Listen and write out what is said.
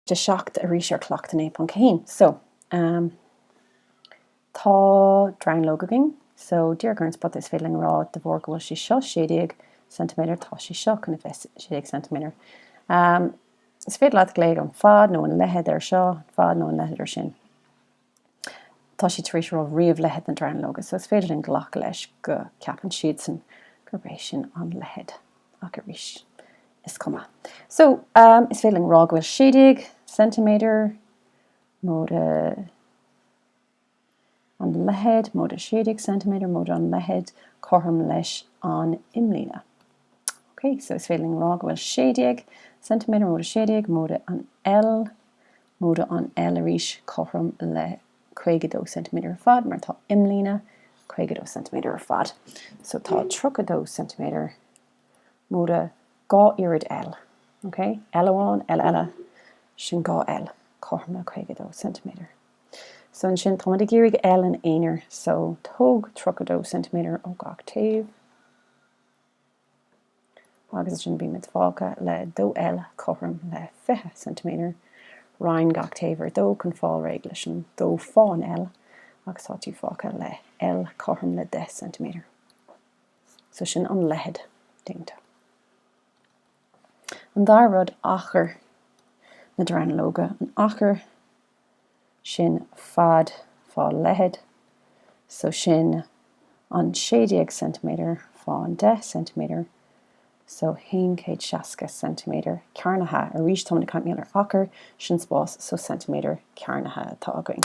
de sheacht arís ar cleachtadh naoi ponc a haon. So ehm tá dronuilleog againn so díreach ar an spota is féidir linn a rá de bharr go bhfuil sí seo sé déag ceintiméadar tá sí seo cun a bheith sé déag ceintiméadar. Ehm is féidir leat glaoch an fad nó an leithead air seo, an fad nó an leithead air sin. Tá siad tar éis rá ríomh leithead na dronuilleoige so is féidir linn glacadh leis go gceapann siadsan gurb é sin an leithead. Ach arís, is cuma. So, is féidir linn rá go bhfuil 16 ceintiméadar móide an leithead, móide 16 ceintiméadar móide an leithead, cothrom leis an imlíne. Ok, so is féidir linn rá go bhfuil 16 ceintiméadar móide 16 móide an L móide an L arís cothrom le 52 ceintiméadar ar fad, mar tá imlíne 52 ceintiméadar ar fad so tá 32 ceintiméadar móide dhá oiread L. OK? L amháin, L eile, sin dhá L cothrom le 52 ceintiméadar. So ansin, táimid ag iarraidh L ina aonar so tóg 32 ceintiméadar ó gach taobh. agus ansin bímid fágtha le 2L cothrom le 20 ceintiméadar, roinn gach taobh ar dó chun fáil réidh leis an 2 fá an L agus tá tú fágtha le L cothrom le 10 ceintiméadar. So sin an leithead déanta. An dara rud, achar na dronuilleoige, an achar sin fad fá leithead, so sin an 16 ceintiméadar fá an 10 ceintiméadar, so haon chéad seasca ceintiméadar cearnaithe. Arís, táimid ag caint ar achar, sin spás, so ceintiméadar cearnaithe atá againn.